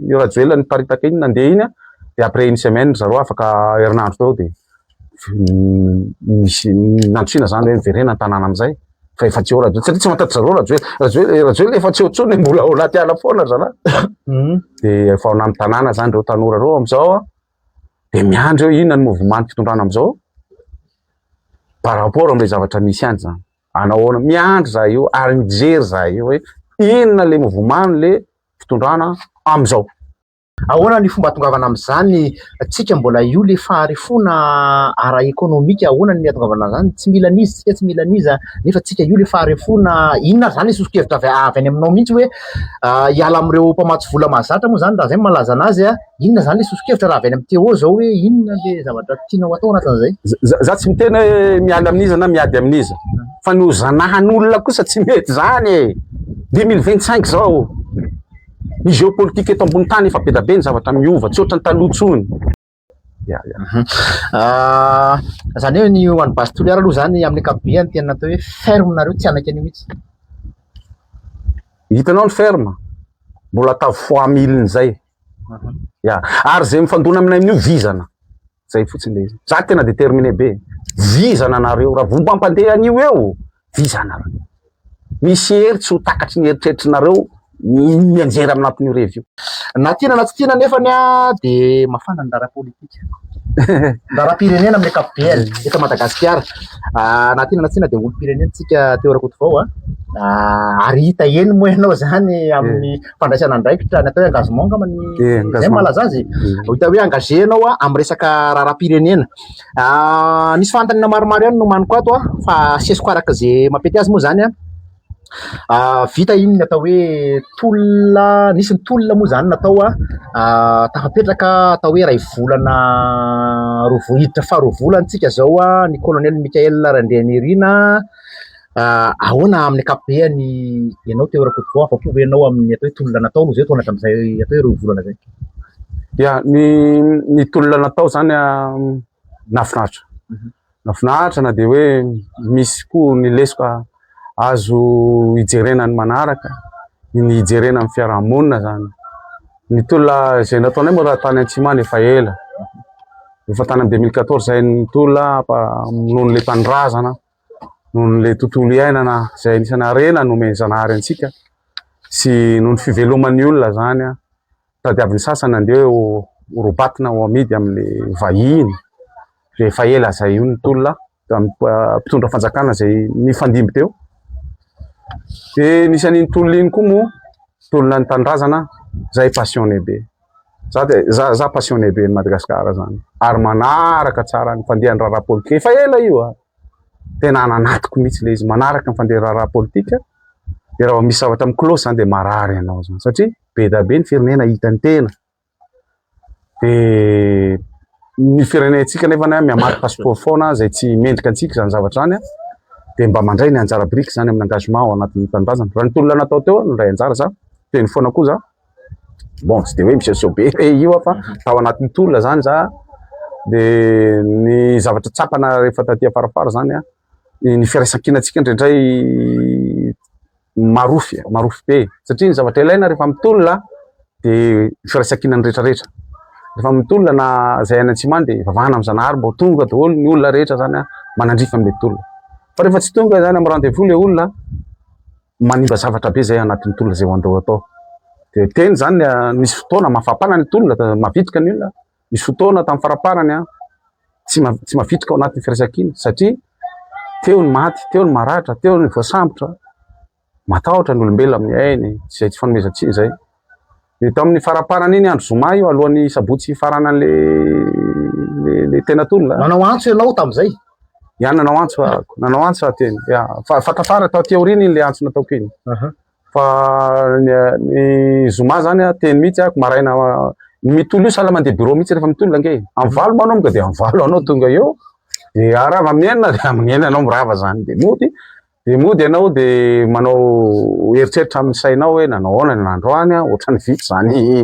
io rajoelina niparitaka iny nandeha iny dia après une semaine zareo afaka herinandro teo dia nisy nandrosina zany hoe miverena ny tanàna amizay fa efa tsy eo rajoelina satria tsy matatry zareo rajoelina rajoelina rajoelina efa tsy eo tsony mbola ao anaty ala foana zana hmm. dia efa ao anaty tanàna zany reo tanora reo amizao dia miandry eo inona ny mouvement fitondrana amizao par rapport amle zavatra misy any zany anahoana miandry za io ary mijery za io hoe inona le mouvement le fitondrana amin'izao. Ahoana ny fomba atongavana amin'izany? Tsika mbola io le faharefoana ara ekonomika ahoana ny atongavana amin'izany? Tsy mila an'iza isika tsy mila an'iza nefa tsika io le faharefoana inona ary zany le sosokevitra avy avy any aminao mihitsy hoe hiala amin'ireo mpamatsy vola mahazatra moa zany raha zay no malaza an'azy a! Inona izany ilay soso-kevitra raha avy any amin'ny Téo izao hoe inona ilay zavatra tianao hatao anatin'izay? Za tsy miteny hoe miala amin'iza na miady amin'iza fa ny ho zanahan'olona kosa tsy mety izany e! 2025 izao, ny géopolitique eto ambony tany efa bedabe ny zavatra miova, tsy ohatran'ny taloha intsony. Ya, ya. Izany hoe ny ho an'ny Base Toliara aloha izany amin'ny ankapobeny tena atao hoe ferme nareo, tsy hanaiky an'io mihitsy. Hitanao ny ferme, mbola atao fois mille-n'izay. Ya. Ary izay mifandona aminay amin'io vizana. Izay fotsiny ilay izy. Za tena déterminé be. Vizana nareo raha vao mampandeha an'io eo, vizana. Misy hery tsy ho takatry ny eritreritrnareo mianjera amin'atin'io revy io. Na tiana na tsy tiana nefany a dia mafana ny raharaha politika. Ny raharaham-pirenena amin'ny ankapobeny eto Madagasikara. Na tiana na tsy tiana dia olom-pirenena isika Theo Rakotovao a. Ary hita eny moa ianao izany amin'ny fandraisana andraikitra ny atao hoe engagement angamba ny zay no malaza azy ho hita hoe engagé ianao amin'ny resaka raharaham-pirenena ah, nisy fanontaniana maromaro ihany nomaniko ato ah, fa asesiko araka izay mampety azy moa zany ah, vita iny ny atao hoe tolona nisy ny tolona moa zany natao a tafapetraka atao hoe ray volana roa hiditra faharoa volantsika zao a ny colonel Michael Randrianirina Ahoana amin'ny ankapobeny ianao Téo Rakotovao, afa-po ve ianao amin'ny atao hoe tolona natao aloha izay toa hatramin'izay atao hoe roa volana izay? Dia ny ny tolona natao izany nafinaritra mhm. nafinaritra na dia hoe misy koa ny lesoka azo hijerena ny manaraka ny hijerena ny fiarahamonina izany ny tolona izay nataonay moa raha tany Antsimana efa ela efa tany amin'ny 2014 izay ny tolona noho ny le tanindrazana noho ny le tontolo iainana izay anisany harena nomen'ny zanahary antsika sy noho ny fiveloman'ny olona zany an tadiavin'ny sasany andeha ho robatina ho amidy amin'ny vahiny dia efa ela izay io ny tolona tamin'ny mpitondra fanjakana izay nifandimby teo dia nisy an'iny tolona iny koa moa tolona ny tanindrazana izay passionné be Za dia za za passionné be ny Madagascar zany ary manaraka tsara ny fandehan'ny raharaha politika. Efa ela io a. Tena any anatiko mihitsy le izy manaraka ny fandehan'ny raharaha politika. Dia raha misy zavatra miklosy zany dia marary ianao zany satria be da be ny firenena hitan'ny tena. Dia ny firenentsika nefa na miamaky passeport foana izay tsy mendrika antsika izany zavatra izany dia mba mandray ny anjara biriky izany amin'ny engagement ao anatin'ny tanindrazana. Raha ny tolona natao teo no ray anjara za, teny foana koa za. bon tsy de hoe misehoseho be hoe io aho fa tao anatin'ny tolona zany za de ny zavatra tsapana rehefa taty afarafara zany a ny firaisankinantsika indraindray marofy marofy be satria ny zavatra ilaina rehefa mitolona de firaisankinan'ny retraretra rehefa mitolona na zay any antsimany de vavahana am zanahary mba ho tonga daholo ny olona rehetra zany a manandrify an'le tolona fa rehefa tsy tonga zany am rendez-vous le olona manimba zavatra be zay anatin'ny tolona zay andao atao de teny zany misy fotoana mafapana ny tolona de mavitrika ny olona misy fotoana tamin'ny faraparany an tsy tsy mavitrika ao anatin'ny firaisankina satria teo ny maty teo ny maratra teo ny voasambotra matahotra ny olombelona amin'ny ainy zay tsy fanomezantsiny zay Dia tao amin'ny faramparan'iny andro zoma io, alohan'ny sabotsy hifaranan'ilay ilay tena tolona. Nanao antso ianao tamin'izay? Ya, nanao antso aho. Nanao antso aho teny. Ya, fa fa tafara tao aty aoriana iny ilay antso nataoko iny. Aha. Fa ny, ny zoma izany aho teny mihitsy aho, maraina ny mitolo io sahala mandeha bureau mihitsy rehefa mitolona ange. Amin'ny valo moa anao monga dia amin'ny valo anao tonga eo, dia raha vao amin'ny enina dia amin'ny enina anao mirava izany. Dia mody Dia mody ianao dia manao eritreritra amin'ny sainao hoe nanao ahoana ny androany an, ohatran'ny vitsy izany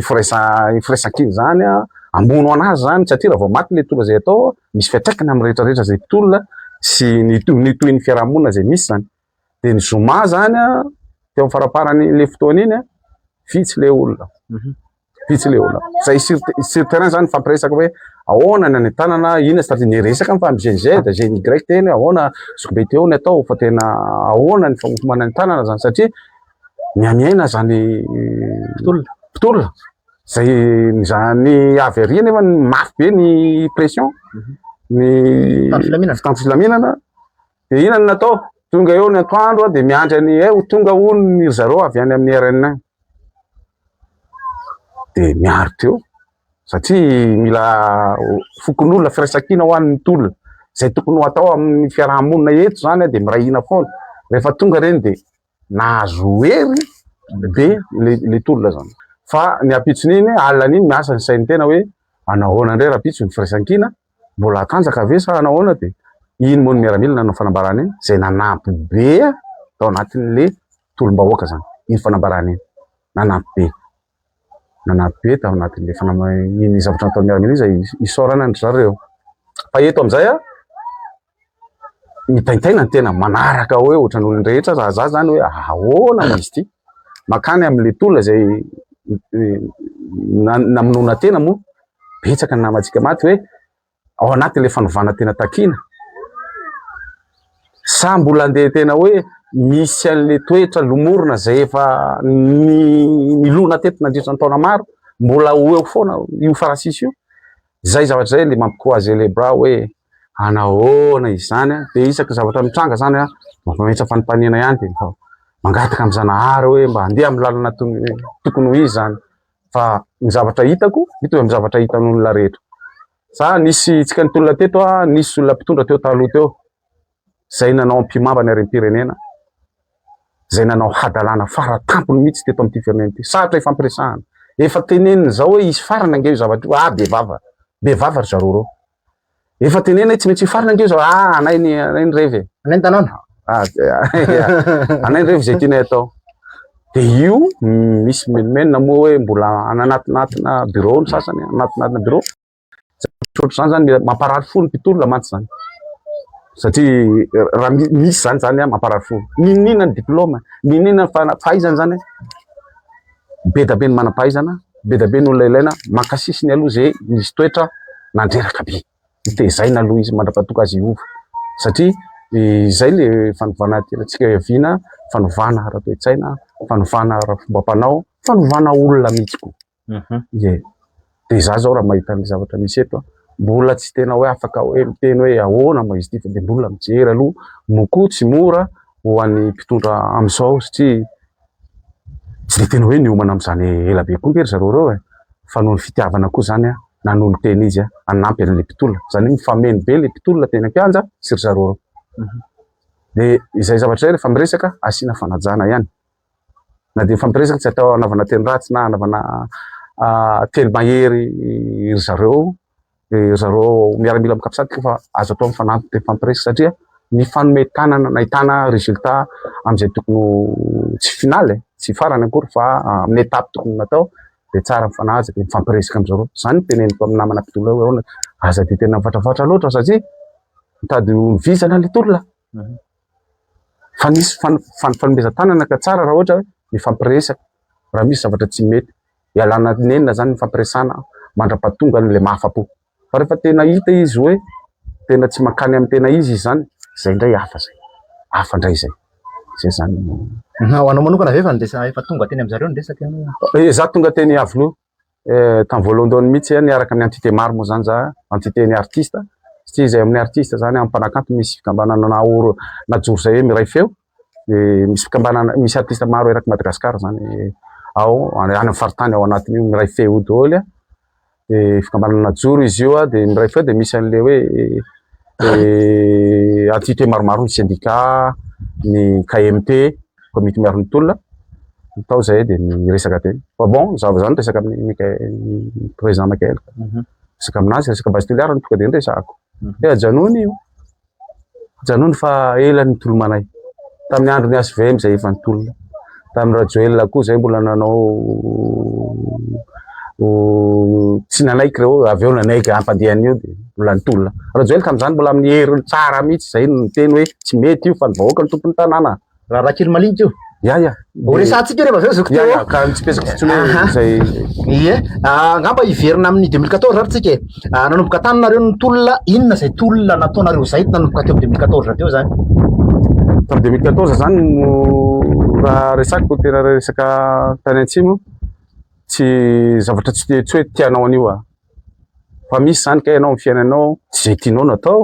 firaisan, firaisan-kina izany an, hamono an'azy izany satria raha vao maty ilay mpitolona izay atao misy fiantraikany amin'ny rehetra rehetra izay mpitolona sy ny to, ny tohin'ny fiarahamonina izay misy izany. Dia ny zoma izany an, teo amin'ny faramparan'iny ilay fotoana iny an, vitsy ilay olona. Vitsy le olona. Zay sur sur terrain zany fampiresaka hoe ahoana ny any an-tanana, inona stratégie ny resaka ny fam GNZ, GNY teny ahoana zokibe teo ny atao fa tena ahoana ny famokomana any an-tanana zany satria mihamiaina zany mpitolona mpitolona zay zany avy ary nefa mafy be ny pression ny fitan'ny filaminana dia inona ny natao tonga eo ny antoandro dia miandry any eh, tonga hono ny zareo avy any amin'ny RN1 dia miaro teo satria mila fokonolona firaisankina ho an'ny tolona izay tokony ho atao amin'ny fiaraha-monina eto izany dia miray hina foana rehefa tonga ireny dia nahazo hery be ilay tolona izany fa ny ampitson'iny alina iny miasa ny sain'ny tena hoe manao ahoana indray rahampitso ny firaisankina mbola hatanjaka ve sa hanao ahoana dia iny moa ny miaramila nanao fanambarana iny izay nanampy be tao anatin'ilay tolom-bahoaka izany, iny fanambarana iny. Nanampy be. Nanampy be tao anatin'ilay fanambarana iny zavatra nataon'i Miaramila iny izay isaorana an-dry zareo. Fa eto amin'izay aho, mitaintaina ny tena manaraka hoe ohatran'ny olon-drehetra raha za zany hoe ahoana izy ity makany amin'le tolona izay namonoana tena moa betsaka ny namantsika maty hoe ao anatin'ilay fanovana tena takiana? Sa mbola handeha tena hoe misy an'ilay toetra lomorina izay efa nilona teto nandritra ny taona maro, mbola ho eo foana io farasisy io? Izay zavatra izay ilay mampikoazelebra hoe hanahoana izany an? Dia isaky ny zavatra mitranga izany an, mampametsa fanontaniana ihany dia mangataka amin'i Zanahary hoe mba handeha amin'ny lalana tokony ho izy izany. fa ny zavatra hitako mitovy amin'ny zavatra hitan'olona rehetra. Za nisy tsika nitolona teto a, nisy olona mpitondra teo taloha teo zay nanao ampihimamba ny harem-pirenena, zay nanao hadalana fara tampony mihitsy teto amin'ity firenena ity. Sarotra ifampiresahana. Efa tenenina zao hoe hisy farany ange io zavatra io, ah bevava, bevava ry zareo reo. Efa tenenay tsy maintsy hifarina ange zao. Ah, anay ny anay ny revy. Anay ny tanàna. Ah, anay ny revy izay tianay atao. Dia io misy menomenona moa hoe mbola ananatinatina bureau ny sasany, anatinatina bureau. Ohatr'izany zany mamparary fo ny mpitolona mantsy zany. Satria eh, raha misy zany zany mamparary fo. Ninina ny diplôma, ninina fa fahaizana zany. be dia be ny manam-pahaizana, be dia be ny olona ilaina. Mankasihy ny aloha izay nisy toetra nandreraka be. Notezaina aloha izy mandra-pahatonga azy hiova. Satria izay ilay fanovana tiantsika hiaviana, fanovana ara-toe-tsaina, fanovana ara-fomba-panao, fanovana olona mihitsy koa. Ie. dia izaho izao raha mahita ny zavatra misy eto an, mbola tsy tena hoe afaka hoe miteny hoe ahoana moa izy ity fa dia mbola mijery aloha, moa koa tsy mora ho an'ny mpitondra amin'izao satria tsy dia tena hoe niomana amin'izany ela be koa ve ry zareo ireo e, fa noho ny fitiavana koa izany an, nanolo tena izy hanampy an'ilay mpitolona, izany hoe mifameno be ilay mpitolona teny an-kianja sy ry zareo ireo, dia izay zavatra izay rehefa miresaka asiana fanajana ihany. Na dia mifampiresaka tsy atao hanaovana teny ratsy na hanaovana teny mahery ry zareo, dia ry zareo miaramila amin'ny Capsat koa fa azo atao mifanampy mifampiresaka satria mifanome tanana nahitana résultat amin'izay tokony ho tsy finale eh, tsy farany akory fa amin'ny étape tokony natao dia tsara mifanaja dia mifampiresaka amin'ny zareo. Izany no teneniko amin'ny namana mpitolona hoe ahoana, aza dia tena mivatravoatra loatra satria mitady ho ny vizana ilay tolona. Fa nisy fanomezan-tanana ka tsara raha ohatra hoe mifampiresaka raha misy zavatra tsy mety. Ialana nenina izany ny hifampiresahana mandra-pahatongan'ilay mahafa-po. Fa rehefa tena hita izy hoe tena tsy mankany amin'ny tena izy izany, izay indray hafa izay. Hafa indray izay. Izay izany no. Ho anao manokana ve efa niresa, efa tonga teny amin-dry zareo ny resaka ianao? Izaho tonga teny Iavoloha. eh, tamin'ny voalohandohany mihitsy eh, niaraka amin'ny entité maro moa zany za entité ny artiste satria izay amin'ny artiste zany amin'ny mpanakanto misy fikambanana naoro najoro zay hoe miray feo dia misy fikambanana misy artiste maro eraky Madagascar zany eh, ao any amin'ny faritany ao anatin'io miray feo io daholo eh. dia fikambanana najoro izy io ah, dia miray feo dia misy an'ilay hoe entité maromaro ny syndicat ny KMT komity miaro ny tolona tao izay dia ny resaka teny fa bon zava zany resaka amin'ny Mickaël président Mickaël mhm. resaka aminazy resaka base toliara no tonga dia niresahako mhm. dia ajanony io ajanony fa ela ny tolomanay tamin'ny andro ny HVM izay efa nitolona tamin'ny Rajoelina koa izay mbola nanao tsy nanaiky reo avy eo nanaiky ampandehan'ny io dia mbola nitolona rajoel tamin'izany mbola amin'ny hery tsara mihitsy izay no niteny hoe tsy mety io fa ny vahoaka ny tompon'ny tanàna raharaha kely malinika io ya ya ho resahantsika rehefa avy eo zoky teo ka ny tsy pesako fotsiny hoe izay ie ah, angamba hiverina amin'ny 2014 ary tsika e ah, nanomboka tany nareo ny tolona inona izay tolona nataonareo izay nanomboka teo amin'ny 2014 avy eo zany tamin'ny 2014 zany no raha resako tena resaka tany antsimo Tsy zavatra tsy tsy hoe tianao an'io ah. Fa misy zany ka ianao amin'ny fiainanao tsy izay tianao no atao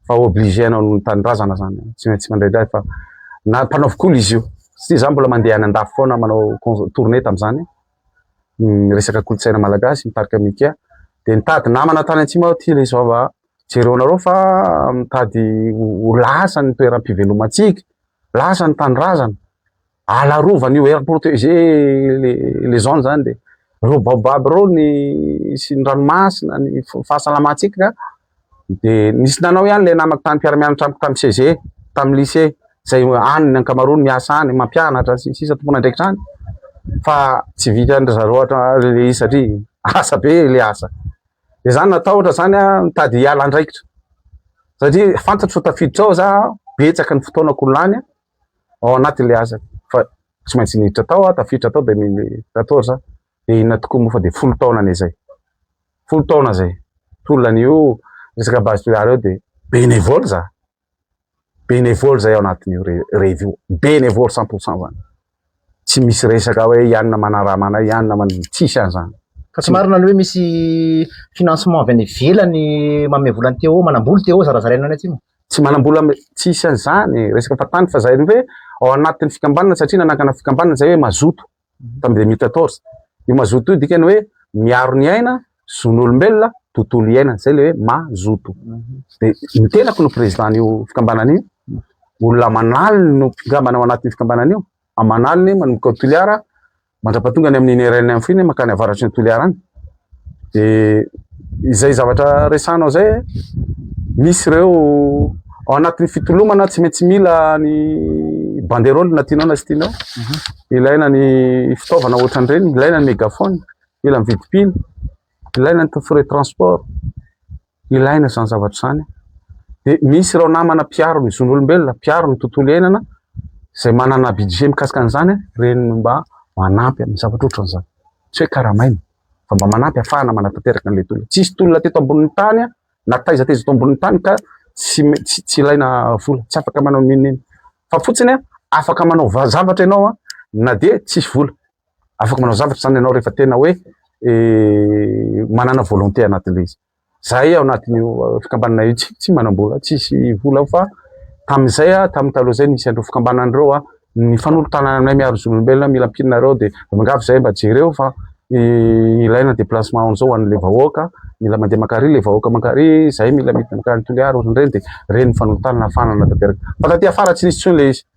fa obligé anao noho ny tanindrazana zany. Tsy maintsy mandray dahy fa na mpanaovy koly izy io. Satria za mbola mandeha any andafy foana manao cons- tournée tamin'izany a. Ny resaka kolontsaina malagasy mitarika amin'ny IKEA. Dia nitady namana tany Antsimo aho ty ilay zao ah. Jereo anareo fa mitady ho ho lasa ny toeram-pivelomantsika, lasa ny tanindrazana. Alarovan' io Air Protégé les zones zany dia ireo baobab ireo ny sy ny ranomasina ny fahasalamantsika dia nisy nanao ihany ilay namako tany mpiara-mianatra amiko tamin'ny CG tamin'ny lycée izay any ny ankamaroany miasa any mampianatra sy ny sisa tompon'andraikitra any fa tsy vitan'dry zareo ohatra ilay izy satria asa be ilay asa dia izany natahotra izany a mitady hiala andraikitra satria fantatro tafiditra ao za betsaka ny fotoanako lany ao anaty ilay asa fa tsy maintsy niditra tao aho, tafiditra tao 2014 dia inona tokoa moa fa dia folo taona anie izay, folo taona izay, tolona an'io resaka base tolérant io dia bénévole za, bénévole zay ao anatin'io revy io, bénévole cent pour cent zany. Tsy misy resaka hoe ianona manarama anay, ianona man... tsisy an'izany. Fa tsy marina ny hoe misy financement avy any ivelany manome vola ny TO, manambola TO zarazaraina any atsimo. Tsy manambola am- tsisy an'izany, resaka fahatany fa izay ny hoe ao anatin'ny fikambanana satria nanakana fikambanana izay hoe mazoto tamin'ny deux mille quatorze. Io mazoto io dikany hoe miaro ny aina zon'olombelona, tontolo iainana, izay ilay hoe mazoto. Dia ny tenako no président-n'io fikambanana io, olona manaliny no mpikambana ao anatin'io fikambanana io, manaliny manomboka ao Toliara mandrapatonga any amin'ny iny RN any fony mankany avaratry ny Toliara any. Dia izay zavatra resahanao izay, misy ireo ao anatin'ny fitolomana tsy maintsy mila ny banderole na tianao na tsy tianao, ilaina ny fitaovana ohatran'ireny, ilaina ny mégaphone, Mila mividy pile, ilaina ny frais transport, ilaina izany zavatra izany. Dia misy ireo namana mpiaro ny zon'olombelona, mpiaro ny tontolo iainana izay manana budget mikasika an'izany an, ireny no mba manampy amin'ny zavatra ohatran'izany. Tsy hoe karamaina fa mba manampy ahafahana manatanteraka an'ilay tolona. Tsy hisy tolona teto ambonin'ny tany an, na taiza taiza eto ambonin'ny tany ka tsy me- tsy tsy ilaina vola, tsy afaka manao n'inon'inona. Fa fotsiny an, afaka manao va- zavatra ianao an, na dia tsisy vola. Afaka manao zavatra zany ianao rehefa tena hoe manana volonté anatin'ilay izy. Zahay ao anatin'io fikambanana io tsy tsy manam-bola, tsisy vola fa tamin'izay a, tamin'ny taloha izay nisy an'ireo fikambanana ireo a, ny fanolotanana aminay miaro zon'olombelona mila mpinina ireo dia miangavy zahay mba jereo fa ilaina déplacement an'izao ho an'ilay vahoaka, mila mandeha mankary ilay vahoaka mankary, zahay mila midina mankany Toliara ohatran'ireny dia ireny ny fanolotanana ahafahana manatanteraka. Fa taty afara tsy nisy intsony ilay izy.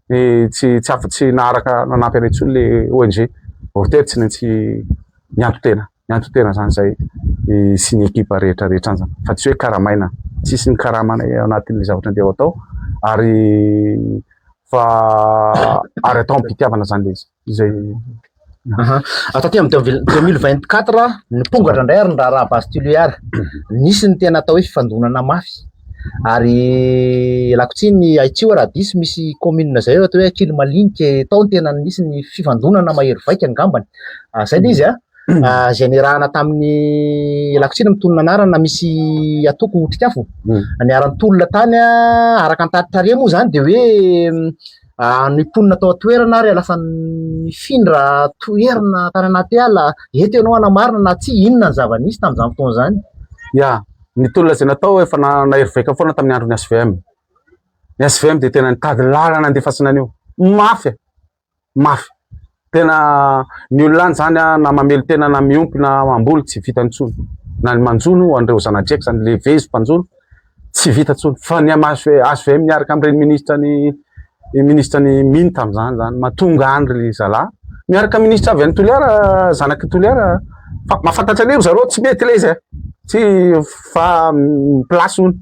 ny tsy tsy afa tsy naharaka nanampy anay intsony le ONG Orteri tsy maintsy nianto tena nianto tena zany zay sy ny ekipa rehetra rehetra any zany fa tsy hoe karamaina tsisy ny karama anay anatin'le zavatra andeha atao ary fa ary atao am-pitiavana zany le izy izay Aha. Taty amin'ny deux mille vingt quatre, nipongatra indray ary ny raharaha base tiliar. Nisy ny tena atao hoe fifandonana mafy. Ary lakotsy ny Haitsio raha diso, misy commune izay atao hoe Ankily Malinika, tao ny tena nisy ny fifandonana mahery vaika angambany. Ah, izay ilay izy a. Ah, izay niarahana tamin'ny lakotsy ny mitonona anarana, misy atoko Otrikafo. Niara-nitolona tany a, araka ny tari-tariha moa izany dia hoe Ny mponina tao an-toerana ary lasa nifindra toerana tany anaty ala. Eto ianao hanamarina na tsia inona ny zava-nisy tamin'izany fotoana izany. Ya, ny tolona izay natao efa nahery vaika foana tamin'ny andron'ny HVM. Ny HVM dia tena nitady lalana handefasana an'io. Mafy e! Mafy. Tena ny olona any zany na mamely tena na miompy na mamboly tsy vita intsony. Na ny manjono an'ireo zanadriaka zany le vezo mpanjono tsy vita intsony. Fa ny am HVM miaraka amin'ireny ministra ny ministra ny mine tamin'izany zany ma tonga any ry zalahy miaraka ministra avy any Toliara zanak'i Toliara fa mahafantatra an'io ry zareo tsy mety le izy e. Tsy fa place hono.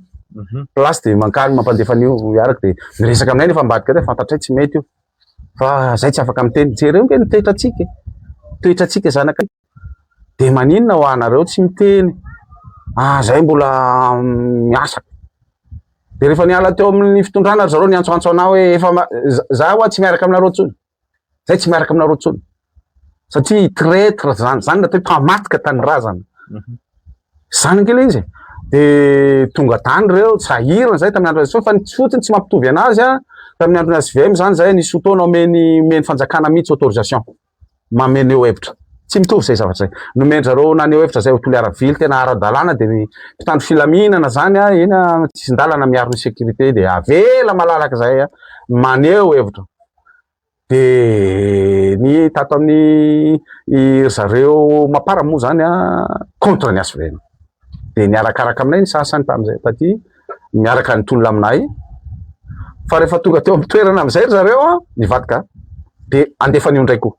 Place dia mankany mampandefa an'io iaraka dia miresaka aminay nefa ambadika aty fantatray tsy mety io. fa zay tsy afaka miteny jereo nge ny toetra tsika toetra tsika zanaka de maninona ho anareo tsy miteny ah zay mbola miasa de rehefa niala teo amin'ny fitondrana ry zareo niantsoantso anao hoe efa za hoa tsy miaraka aminareo tsony zay tsy miaraka aminareo tsony satria traitre zany zany atao hoe mpamaty ka tany razana zany angila izy de tonga tany reo sahirana zay tamin'ny andro azy fa tsy fotsiny tsy mampitovy anazy a tamin'ny andro azy vm zany zay nisy fotoana omeny omeny fanjakana mihitsy autorisation mameno eo hevitra tsy mitovy zay zavatra zay nomendra reo naneho hevitra zay ho toliara vily tena ara-dalàna de ny mpitandro filaminana zany a ena tsisindalana miaro ny sécurité de avela malalaka zay a maneho hevitra Dia ny tato amin'ny ry zareo Mapar moa izany contre ny HVM. Dia niarakaraka aminay ny sasany tamin'izay taty, miaraka nitolona aminay. Fa rehefa tonga teo amin'ny toerana amin'izay ry zareo an, nivadika. Dia andefa an'io indray koa.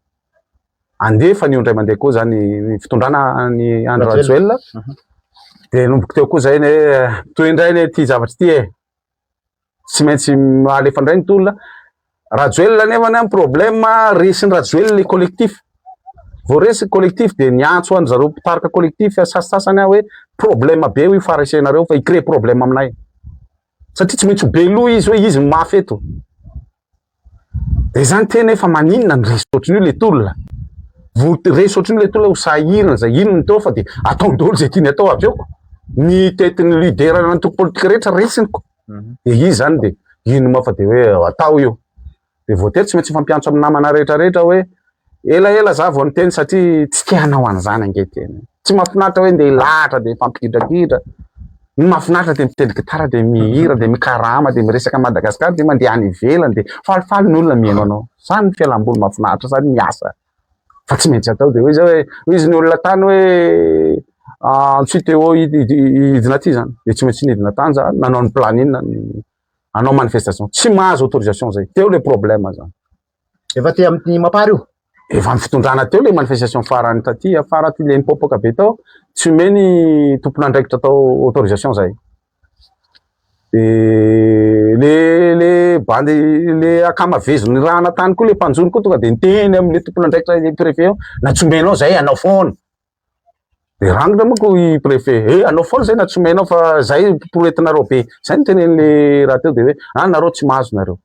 Andefa an'io indray mandeha koa izany ny fitondrana an'i Andry Rajoelina. Dia nomboko teo koa izay ny hoe, toy indray ny ity zavatra ity e. tsy maintsy alefa indray ny tolona. Rajoelina nefa ny problème resin'i Rajoelina ny collectif. Vao resy ny collectif dia niantso an'i zareo mpitarika collectif sasasasany aho hoe problème be io faresenareo fa i crée problème aminay. Satria tsy maintsy ho be loha izy hoe izy no mafy eto. de izany tena efa maninona ny resy ohatran'io le tolona vo resy ohatran'io le tolona ho sahirana zay inona atao fa de ataony daholo zay tiany atao avy eo ko ny tetin'ny lidera ny antoko politika rehetra resiny ko de izy zany de ino ma fa de hoe atao io de voatery tsy maintsy fampiantso amin'ny namana rehetra rehetra hoe Ela ela za vao niteny satria tsy te hanao an'izany ange tena. Tsy mahafinaritra hoe ndeha hilahatra dia mifampigidragidra. Ny mahafinaritra dia mitendry gitara dia mihira dia mikarama dia miresaka an'i Madagasikara dia mandeha any ivelany dia falifaly ny olona mihaino anao. Izany ny fialamboly mahafinaritra sady miasa fa tsy maintsy atao dia hoy izay hoe hoy izy ny olona tany hoe Antsoy Téo hidina aty izany dia tsy maintsy nidina tany za nanao ny planina ny hanao manifestation. Tsy mahazo autorisation izay. Teo ilay problème izany. Efa aty amin'ny Mapar io? Efa amin'ny fitondrana teo ilay manifestation farany taty afara aty ilay nipoapoaka be tao, tsy omeo ny tompon'andraikitra tao autorisation izay. Dia le le bandy le akama vezo nirahana tany koa le mpanjono koa tonga dia niteny amin'ilay tompon'andraikitra ilay préfet eo, na tsy omenao izay anao foana. Dia rangona manko i préfet, he eh, anao foana zay na tsy omenao fa zay poroetinareo be. Zay ny tenen'le rahateo dia hoe ah nareo tsy mahazo nareo.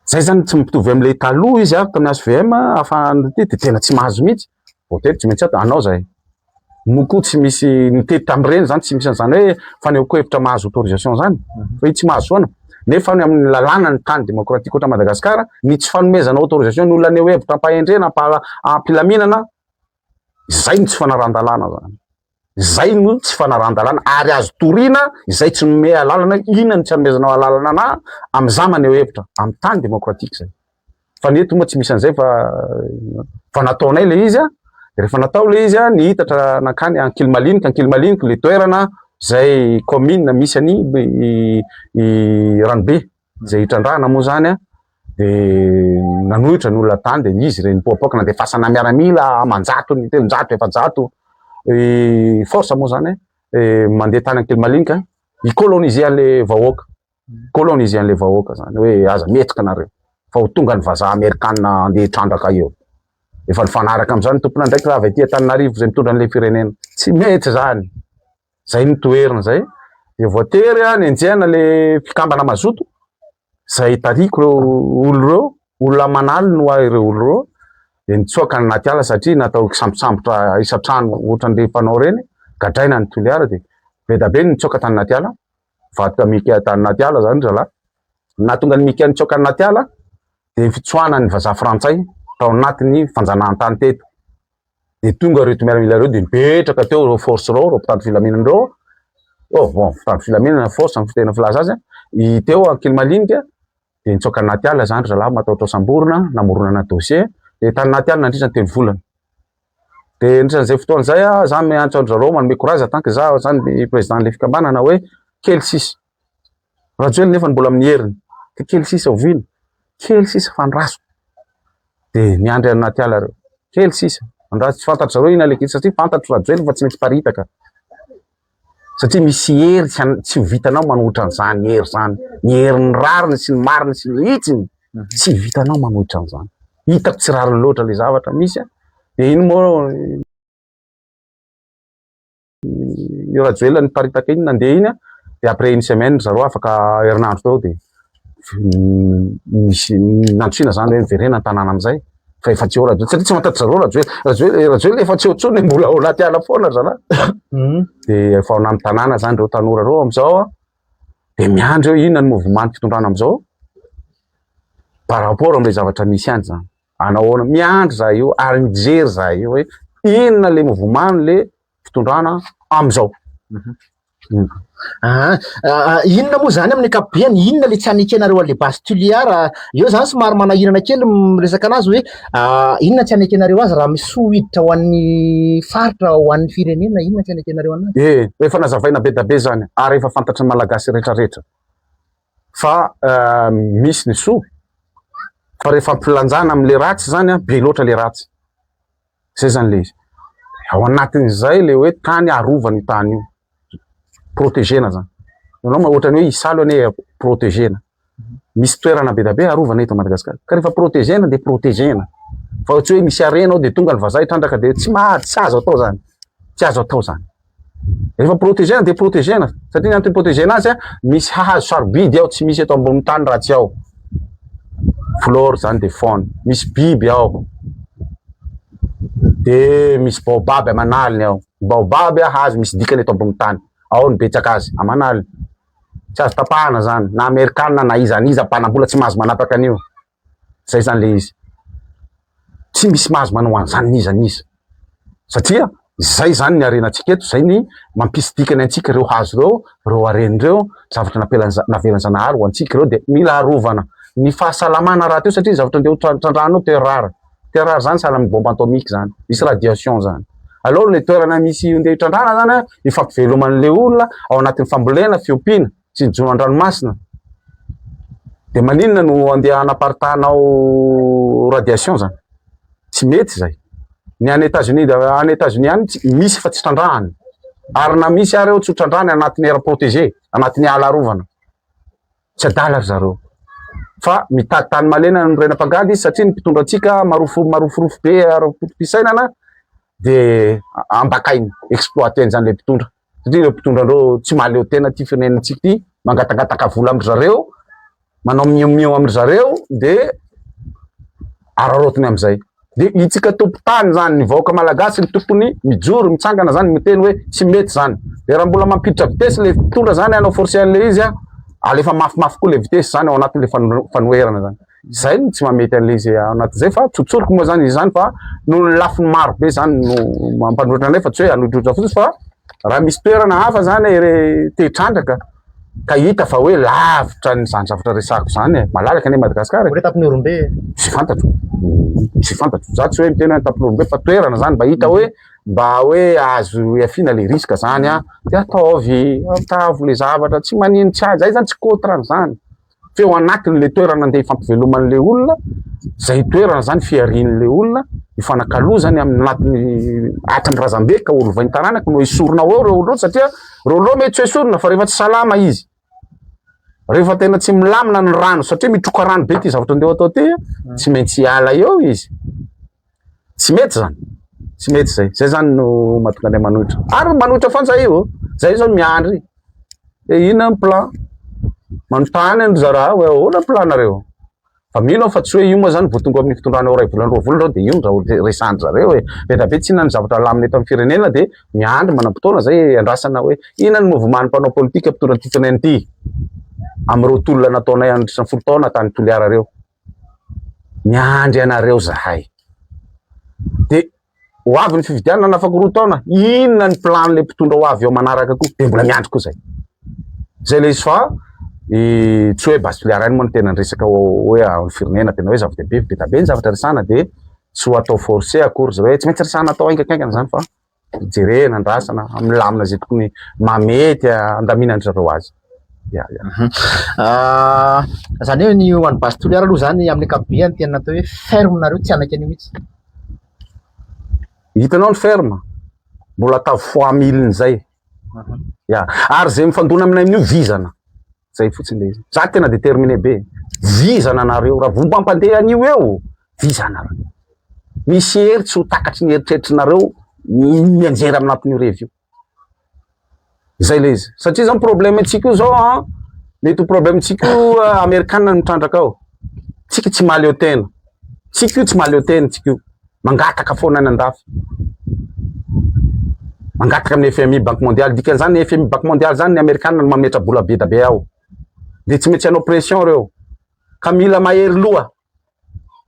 Zay zany tsy mitovy amin'ilay taloha izy avy tamin'ny HVM afahan'ny ity dia tena tsy mahazo mihitsy. Voatery tsy maintsy ato anao zay. Moa koa tsy misy nitety tamin'ireny zany tsy misy an'izany hoe fanehoan-kevitra mahazo autorisation zany. Fa i tsy mahazo foana. nefa ny amin'ny lalàna ny tany demokratika ohatran'i Madagasikara, ny tsy fanomezana autorisation ny olona haneho hevitra am-pahendrena, am-pa- am-pilaminana, izay no tsy fanarahan-dalàna zany. Izay no tsy fanarahan-dalàna ary azo toriana izay tsy nomea alalana, inona no tsy hanomezanao alalana anà amin'izà maneho hevitra amin'ny tany demokratika izay. Fa ny eto moa tsy misy an'izay fa fa nataonay ilay izy a, rehefa natao ilay izy a, nihitatra nankany Ankilimaliniky, Ankilimaliniky ilay toerana izay commune misy an'i Ranobe izay hitrandrahana moa izany a, dia nanohitra ny olona tany dia izy ireny nipoapoaka nandefasana miaramila aman-jatony, telonjato, efajato force moa izany mandeha tany Ankilimaliniky hi-coloniser an'ilay vahoaka. colonise anle vahoaka zany hoe aza mihetsika nareo fa ho tonga ny vazaha amerikana andeha hitrandraka eo efa nifanaraka amzany tomponandraikitra avy aty antananarivo zay mitondra anle firenena tsy mety zany zay ny toerina zay de voatery a nenjehana le fikambana mazoto zay tariko reo olo reo olona manaly no ahy reo olo reo de nitsoaka ny naty ala satria natao kisambosambotra isantrano ohatran'le fanao reny gadraina ny toliara de be da be nitsoaka tany naty ala vakoka Mika tany anaty ala zany zalahy. Nahatonga ny Mika nitsoaka anaty ala dia ny fitsoahanan'ny vazaha frantsay tao anatin'ny fanjanahantany teto. Dia tonga ireto miaramila ireo dia mipetraka teo ireo force ireo, ireo mpitandro filaminana ireo. Oh, bon, mpitandro filaminana, force, amin'ny fitena filaza azy. I teo Ankilimalinka dia nitsoaka anaty ala zany zalahy matahotra samborina, namoronana dossier. Dia tany anaty ala nandritra ny telo volana. Dia nandritra an'izay fotoana izay aho, izaho miantso an-dry zareo, manome courage en tant que izaho izany ny président-n'ilay fikambanana hoe kely sisa. Rajoelina nefa mbola amin'ny heriny, dia kely sisa oviana? Kely sisa fa andraso. Dia miandry any anaty ala ireo. Kely sisa, andraso. Tsy fantatry zareo inona ilay kely satria fantatro Rajoelina fa tsy mety hiparitaka. Satria misy hery tsy tsy ho vitanao manohitra an'izany hery izany, ny herin'ny rariny sy ny mariny sy ny hitsiny, tsy vitanao manohitra an'izany. Hitako tsy rariny loatra ilay zavatra misy a! Dia iny moa io Rajoelina niparitaka iny nandeha iny a! Dia après une semaine ry zareo afaka herinandro teo dia. nisy nandrisihana zany hoe miverena ny tanàna amizay fa efa tsy eo Rajoelina, satria tsy mahataitra zareo Rajoelina, Rajoelina, Rajoelina efa tsy eo tsony mbola ao anaty ala foana ry zalahy, hmm. de efa ao anaty tanàna zany reo tanora reo amizao an, de miandry eo inona ny mouvement ny fitondrana amizao par rapport amle zavatra misy any zany, anao ahoana, miandry za io ary mijery za io hoe inona le mouvement le fitondrana amizao. Mhm. Aa inona moa izany amin'ny ankapobeny, inona ilay tsy hany ekenareo an'ilay base Tuléar, eo izany somary manahirana kely ny miresaka an'azy hoe inona tsy hany ekenareo azy raha misy soa hiditra ho an'ny faritra, ho an'ny firenena, inona tsy hany ekenareo an'azy? Ie, efa nazavaina be da be izany ary efa fantatry ny Malagasy rehetra rehetra fa misy ny soa fa rehefa ampilanjana amin'ilay ratsy izany an, be loatra ilay ratsy. Zay zany le izy. Ao anatin'izay le hoe tany arovana io tany io. Protégena zany. Ianao ma ohatrany hoe isalo anie protégena. Misy toerana be dia be arovana eto Madagasikara. Ka rehefa protégena dia protégena. Fa tsy hoe misy harena ao dia tonga ny vazaha hitrandraka dia tsy maha tsy azo atao zany. Tsy azo atao zany. Rehefa protegena dia protegena. Satria ny antony protegena azy, misy hahazo sarobidy ao, tsy misy eto ambonin'ny tany raha tsy ao. Flore izany dia faune. Misy biby ao. Dia misy baobab aman'aliny ao. Baobab hahazo misy dikany eto ambonin'ny tany. Ao ny betsaka azy, aman'aliny. Tsy azo tapahana izany. Na Amerikana na iza na iza mpanam-bola tsy mahazo manapaka an'io. Zay zany le izy. Tsy misy mahazo manao an'izany n'iza n'iza. Satria izay izany ny harenantsika eto, izay ny mampisy dikany antsika ireo hazo ireo, ireo harena ireo, zavatra napelan'Za- navelan'Zanahary ho antsika ireo dia mila arovana. Ny fahasalamana rahateo satria ny zavatra andeha ho trandrahanao terre rare, terre rare zany sahala amin'ny bombe atomique zany, misy radiation zany. Aleo le toerana misy andeha hitrandrahana zany an, ifampiveloman'le olona ao anatin'ny fambolena, fiompiana, sy ny jono an-dranomasina dia maninona no andeha hanaparitanao radiation zany tsy mety izay ny any États-Unis any États-Unis any misy fa tsy trandrahany ary na misy ary eo tsy trandrahany anatin'ny air protégé anatin'ny ala arovana tsy adala ry zareo fa mitady tany malena ny rena mpangady izy satria ny mpitondra antsika marofo maroforofo be ara-poto-pisainana dia ambakainy exploiter an'izany le mpitondra satria ireo mpitondra andreo tsy mahaleo tena ity firenentsika ity mangatangataka vola amindry zareo manao miomio amindry zareo de araraotiny amizay de itsika tompotany zany ny vahoaka malagasy ny tokony mijoro mitsangana zany miteny hoe tsy mety zany de raha mbola mampiditra vitesy le mpitondra zany anao forcé an'le izy a alefa mafimafy koa le vitesy zany ao anatin'le fanoherana zany Izay no tsy mahamety an'ilay izay ao anatin'izay fa tsotsoriko moa izany izany fa noho ny lafiny maro be izany no mampanotrona anay fa tsy hoe hanodrotra fotsiny fa raha misy toerana hafa izany te hitrandraka ka hita fa hoe lavitra an'izany zavatra resahako izany e. Malalaka anie Madagasikara e. Ohatry Antapinorombe e. Tsy fantatro. Tsy fantatro. Za tsy hoe miteny hoe Antapinorombe fa toerana izany mba hita hoe mba hoe azo ihafiana ilay risque izany an. Dia ataovy, ataovy ilay zavatra, tsy maninona, tsy ahy. Izahay izany tsy contre an'izany. feo anatiny le toerana andeha hifampivelomany le olona, zay toerana zany fihariany le olona, hifanakalozany amin'ny anatiny atrany razambe ka holovainy taranaka no esorina ao reo olona satria reo olona mety tsy esorina fa rehefa tsy salama izy rehefa tena tsy milamina ny rano satria mitroka rano be ty zavatra andeha atao ty tsy maintsy hiala eo izy Tsy mety zany, tsy mety zay, zay zany no mahatonga anay manohitra, ary manohitra foana zahay ô, zahay zao miandry hoe inona ny plan, manontany an-dry zarah hoe ahoana ny plan-nareo, fa mino aho fa tsy hoe io moa zany vao tonga amin'ny fitondrana ao iray volana roa volana zao dia io no raha resahan-dry zareo hoe ela be tsy inona ny zavatra alamina eto amin'ny firenena dia miandry manam-potoana zay iandrasana hoe inona ny mouvement-n'ny mpanao politika mpitondra antsika anay ity, amin'ireo tolona nataonay andritra ny folo taona tany Toliara ireo. Miandry anareo zahay. Dia ho avy ny fifidianana afaka roa taona, inona ny plan le mpitondra ho avy eo manaraka koa? Dia mbola miandry koa zay. Zay le izy fa i tsy hoe base filière any moa ny tena ny resaka hoe amin'ny firenena tena hoe zava-dehibe be dia be ny zavatra resahana dia tsy ho atao forcer akory zay hoe tsy maintsy resahana atao haingakaingana zany fa hijerena, andrasana, milamina izay tokony mahamety handaminandry zareo azy. Ya, ya. Mhm. Ah, izany hoe ny ho an'ny base Toliara aloha izany amin'ny ankapobeny tena atao hoe ferme nareo tsy hanaiky an'io mihitsy. Hitanao ny ferme? Mbola atao fois mille-n'izay. Mhm. Ya, ary izay mifandona aminay amin'io vizana. Zay fotsiny le izy. Za tena determine be. Vizana nareo ra vo mampandeha an'io eo. Vizana ra. Misy hery tsy ho takatry ny eritreritry nareo mianjera anatin'io revy io. Zay le izy. Satria zao problème antsika io zao an, mety ho problème antsika io Amerikana mitrandraka ao. Tsika tsy mahaleo tena. Tsika io tsy mahaleo tena tsika io. Mangataka foana any andafy. Mangataka amin'ny FMI, Banque Mondiale. Dikan'izany ny FMI, Banque Mondiale izany ny Amerikana no mametra-bola be da be ao. Dia tsy maintsy hanao pression ireo. Ka mila mahery loha.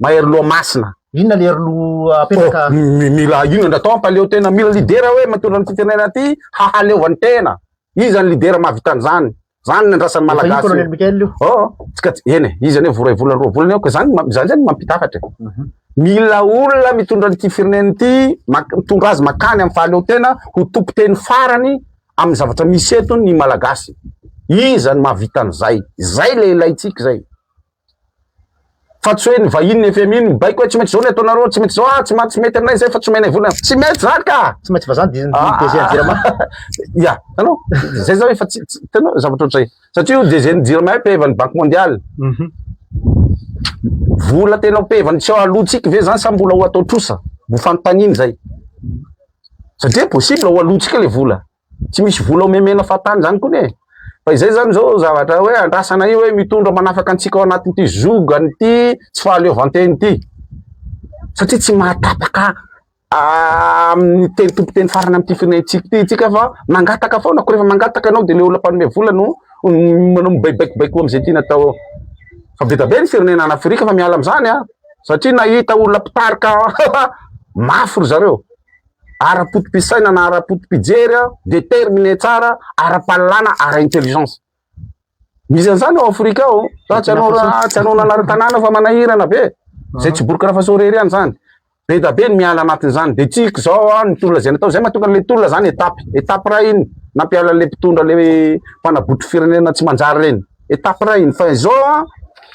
Mahery loha masina. Inona le aroloha apetraka? Oh, mila inona ndra atao ampaleo tena. Mila lidera hoe mitondra ny firenena aty hahaleovany tena. Iza ny lidera mahavita an'izany? Zany ny andrasan'ny malagasy. Colonel Michael io. Oh, tsika eny, izy ane voray volana roa volana eo, zany zany zany mampita hafatra. Mhm. Mila olona mitondra an'ity firenena ity, mitondra azy makany amin'ny fahaleotena ho tompoteny farany amin'ny zavatra misy eto ny malagasy. Iza no mahavita an'izay? Izay le ilaintsika izay. Fa tsy hoe ny vahiny ny fmi no mibaiko hoe tsy maintsy izao ny ataonareo, tsy maintsy izao ah, tsy ma, tsy mety aminay izay fa tsy omenay vola. Tsy mety izany ka! Tsy maintsy vazaha ny ny DG ny Jirama. Ya, hitanao? Izay izao efa tsy, tsy, hitanao, zavatra ohatr'izay. Satria io DG ny Jirama io pehevan'ny Banque Mondiale. Vola tena ho pehevany tsy aloantsika ve izany sa mbola ho atao trosa? Ho fanontaniana izay. Satria possible ho aloantsika ilay vola. tsy misy vola omemena fahatany zany kony e, fa izay zany zao zavatra hoe andrasana io hoe mitondra manafaka antsika ao anatin'ity zogany ity tsy fahaleovantena ity, satria tsy mahatapaka amin'ny teny tompoteny farany amin'ity firenentsika ity tsika fa mangataka foana, ko rehefa mangataka ianao de le olona mpanome vola no manao mibaikobaiko am'izay tiany atao eo, fa be dia be ny firenena any afrika fa miala am'zany an satria nahita olona mpitarika mafy ry zareo. ara-potopisainana, ara-potopijery, determine tsara, ara-pahalalana, ara-intelligence. Misy an'izany ao Afrika ao. Fa tsy anao tsy anao nanary tanàna fa manahirana be. Zay tsy borikra fa sorery ihany zany. Be da be ny miala anatin'izany. Dia tsy izao ah, ny tolona izay natao. Izay mahatonga an'ilay tolona zany étape. Étape iray iny nampiala an'ilay mpitondra ilay mpanabotry firenena tsy manjary ireny. Étape iray iny. Fa izao ah,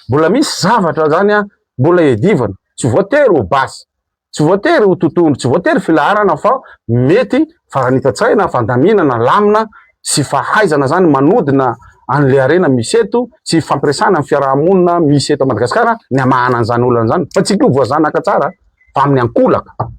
mbola misy zavatra zany ah, mbola iadivana. Tsy voatery ho basy. Tsy voatery ho totohondry, tsy voatery filaharana fa mety faranita-tsaina, fandaminana, lamina sy fahaizana zany manodina an'le harena misy eto sy hifampiresahana amin'ny fiaraha-monina misy eto Madagasikara ny hamahana an'izany olana zany fa tsy ko voazanaka tsara fa amin'ny ankolaka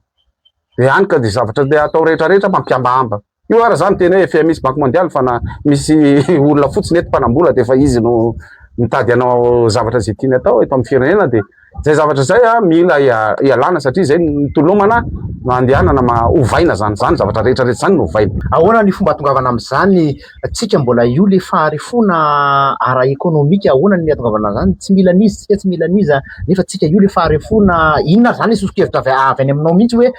de any ka de zavatra de atao rehetra rehetra mampihambahamba. Io ary za miteny hoe fmi sy banky mondialy fa na misy olona fotsiny eto mpanambola dia efa izy no mitady anao zavatra izay tiany atao eto amin'ny firenena dia izay zavatra izay a mila ialana satria izay mitolomana no andehanana ma ovaina zany zany zavatra rehetra rehetra zany no ovaina. Ahoana ny fomba atongavana amin'izany tsika mbola io le faharefoana ara ekonomika ahoana ny atongavana an'izany tsy mila an'iza tsika tsy mila an'iza nefa tsika io le faharefoana inona zany le sosokevitra avy any aminao mihitsy hoe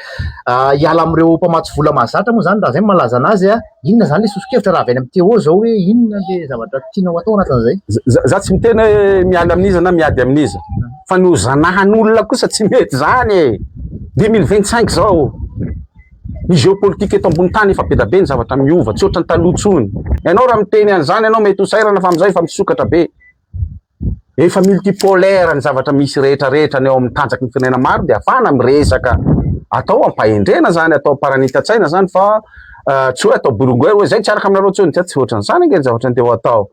hiala amin'ireo mpamatsy vola mahazatra moa izany raha izay no mahalaza an'azy an! inona izany ilay soso-kevitra raha avy any amin'ny Téo izao hoe inona ilay zavatra tiana ho atao anatin'izay? Izaho tsy miteny hoe miala amin'iza na miady amin'iza fa ny ho zanahan'olona kosa tsy mety izany e! deux mille vingt cinq izao ny géopolitique eto ambony tany efa be dia be ny zavatra miova tsy ohatran'ny taloha intsony, ianao raha miteny an'izany ianao mety ho sahirana fa amin'izao efa misokatra be. Rehefa multipolaire ny zavatra misy rehetra rehetra ny ao amin'ny tanjaky ny firenena maro dia afahana miresaka atao ampahendrena zany atao amparanita-tsaina zany fa tsy hoe atao bolongera hoe zay tsy araka aminareo tsony tsy ohatran'izany ange ny zavatra andeha ho atao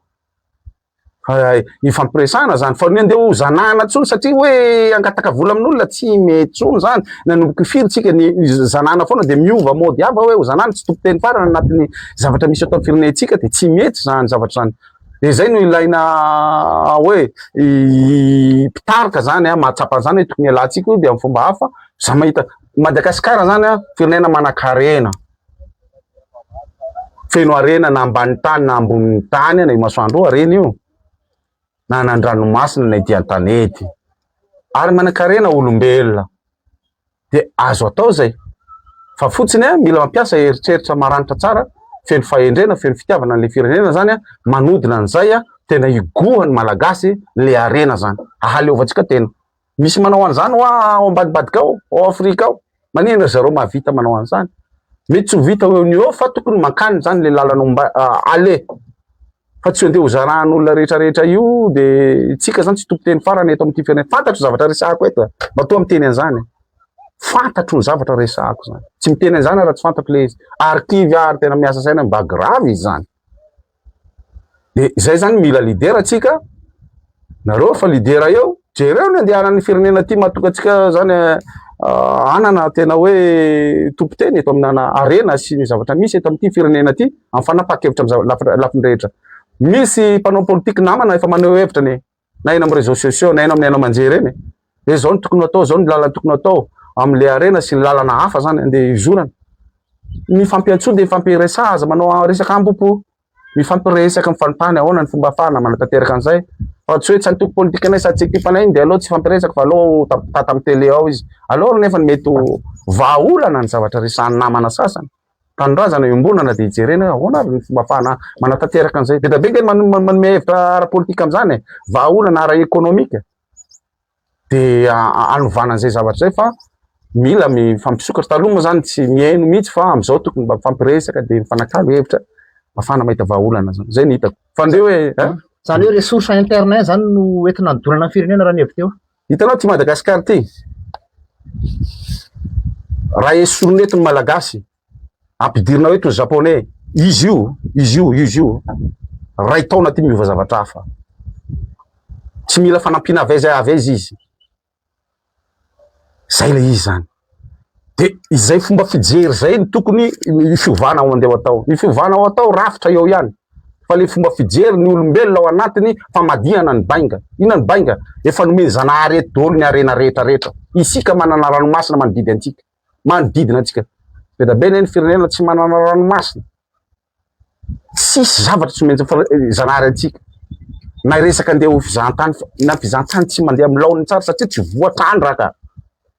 ifampiresana zany fa ny andeha ho zanahana tsony satria hoe angataka vola amin'olona tsy mety tsony zany nanomboka firy tsika ny zanahana foana dia miova mody hafa hoe ho zanahana tsy tompoteny farana anatin'ny zavatra misy atao firenentsika dia tsy mety zany zavatra zany Dia izay no ilaina hoe mpitarika izany an, mahatsapa an'izany hoe tokony hialantsika io dia amin'ny fomba hafa. Za mahita Madagasikara izany an, firenena manan-karena, feno harena na ambanin'ny tany na ambonin'ny tany na eo masoandro eo harena io, na any an-dranomasina na ety an-tanety, ary manan-karena olombelona. dia azo atao izay. Fa fotsiny mila mampiasa eritreritra maranitra tsara, feno fahendrena, feno fitiavana an'ilay firenena zany an, manodina an'izay an, tena higohan'ny Malagasy ilay harena zany, hahaleovantsika tena. Misy manao an'izany hoa ao ambadibadika ao, ao Afrika ao. Maninona ry zareo mahavita manao an'izany? Mety tsy ho vita eo no eo fa tokony mankany zany ilay lalana omba, aller. Fa tsy handeha ho zarahan'olona rehetra rehetra io de tsika zany tsy toko teny farany eto amin'ity firenena. Fantatro zavatra resahako eto eh. Matoa miteny an'izany. Fantatro ny zavatra resahako zany. Tsy miteny an'izany ara tsy fantatro le izy. Arkivy ary tena miasa saina mba grave izy zany. De izay zany mila lidera tsika. Nareo fa lidera eo, jereo ny andehanan'ny firenena aty mahatonga antsika zany hanana tena hoe tompon-teny eto amina harena sy ny zavatra misy eto amin'ity firenena ity amin'ny fanapahan-kevitra amin'ny lafiny rehetra. Misy mpanao politika namana efa maneho hevitra ny na eny amin'ny réseaux sociaux na eny amin'ny haino aman-jery eny hoe zao ny tokony atao, zao ny lalana tokony atao amin'ilay harena sy ny lalana hafa zany andeha hizorana. Ny fampiantsoana dia ny fampiresaha aza manao resaka ambopo Mifampiresaky ny fanontany ahoana ny fomba afahana manatanteraka an'izay fa tsy hoe tsy antoko politikanay sady tsy ekipanay iny dia aleo tsy hifampiresaka fa aleo tata amin'ny tele ao izy aleo nefa ny mety ho vahaolana ny zavatra resahan'ny namana sasany tanindrazana iombonana dia hijerena hoe ahoana ary ny fomba afahana manatanteraka an'izay be dia be manome hevitra ara-politika amin'izany e vahaolana ara-ekonomika dia hanovana an'izay zavatra izay fa mila mifampisokatra. Taloha moa izany tsy mihaino mihitsy fa amin'izao tokony mba mifampiresaka dia mifanakalo hevitra afahana mahita vahaolana izany. Izay ny hitako. Fa ndeha hoe eh? Izany hoe ressource interne izany no entina hanodonana ny firenena raha ny hevitra eo. Hitanao ty Madagascar ty raha esorina eto ny Malagasy. ampidirina eto ny japonais, izy io, izy io, izy io, ray taona ty miova zavatra hafa. Tsy mila fanampiana avy aiza avy aiza izy. Zay le izy zany. De izay fomba fijery zay ny tokony ny fiovana ao andeha atao. Ny fiovana ao atao rafitra eo ihany. Fa le fomba fijery ny olombelona ao anatiny famadihana ny bainga. Ina ny bainga? Efa nomen'i Zanahary eto daholo ny harena rehetra rehetra. Isika manana ranomasina manodidy antsika. manodidina antsika. Be dia be ne ny firenena tsy manana ranomasina. Tsisy zavatra tsy maintsy zanahary antsika. Na hiresaka andeha ho fizahantany na fizahantany tsy mandeha amin'ny laoniny tsara satria tsy voatrandraka.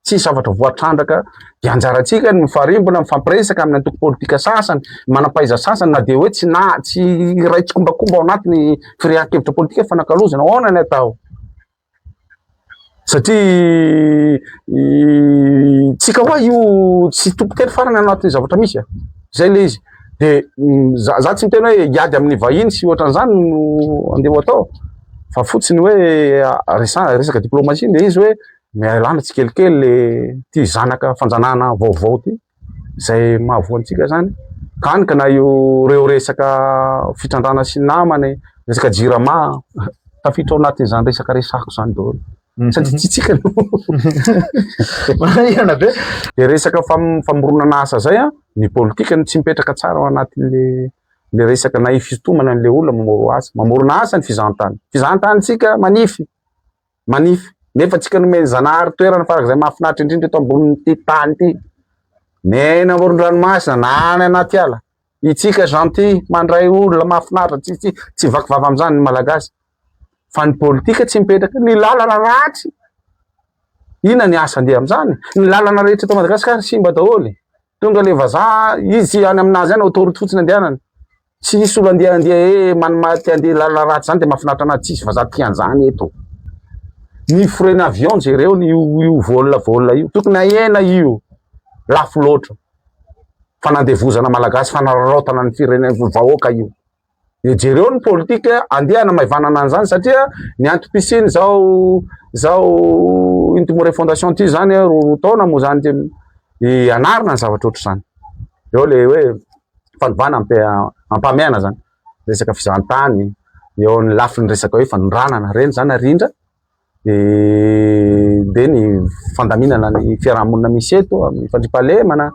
Tsisy zavatra voatrandraka. Dia anjarantsika ny mifarimbona, mifampiresaka amin'ny antoko politika sasany, manam-pahaiza sasany na dia hoe tsy na tsy iray tsikombakomba ao anatin'ny firehan-kevitra politika fanakalozana. Ahoana ny atao? Satria tsika hoa io tsy tompon-teny farany anatin'ny zavatra misy a. Zay le izy. De za za tsy miteny hoe hiady amin'ny vahiny sy ohatran'izany no andeha ho atao fa fotsiny hoe resa- resaka diplomatie le izy hoe mialana tsikelikely le ty zanaka fanjanahana vaovao ty. izay mahavoa antsika izany, tany ka na io ireo resaka fitrandrahana sy namana e, resaka jirama, tafiditra ao anatin'izany resaka resahako izany daholo. Mhm. Sady tsitsika no. Manahirana be. Dia resaka fam- famoronana asa izay a, ny politika no tsy mipetraka tsara ao anatin'le le resaka na hifitomana an'le olona mamoro asa. Mamorona asa ny fizahantany. Fizahantany tsika manify. manify. Nefa tsika nomen'i Zanahary toerana farak'izay mahafinaritra indrindra eto ambonin'ity tany ity. Ny any amoron-dranomasina na any anaty ala. Itsika gentil, mandray olona mahafinaritra, tsy tsy tsy vaky vava amin'izany ny Malagasy. Fa ny politika tsy mipetraka, ny lalana ratsy. Inona ny asa andeha amin'izany? Ny lalana rehetra eto Madagasikara simba daholo. Tonga le vazaha, izy any aminazy any autoroute fotsiny andehanany. Tsy hisy olo andeha andeha ee manoma te andeha lalana ratsy zany de mafinaritra anazy tsisy vaza tia anzany eto ny frais-ny avion jereo ny io vol vol io tokony ahena io lafo loatra fanandevozana malagasy fanararaotana ny firene vahoaka io de jereo ny politika andeha hanamaivanana anzany satria ny antom-pisiany zao zao intimore fondation ty zany roa roa taona moa zany de anarina ny zavatra ohatry zany eo le hoe fanovana ampahamaina zany resaka fizahantany eo amin'ny lafiny resaka hoe fanondranana ireny zany ary indra dia ny fandaminana ny fiarahamonina misy eto amin'ny fandriampahalemana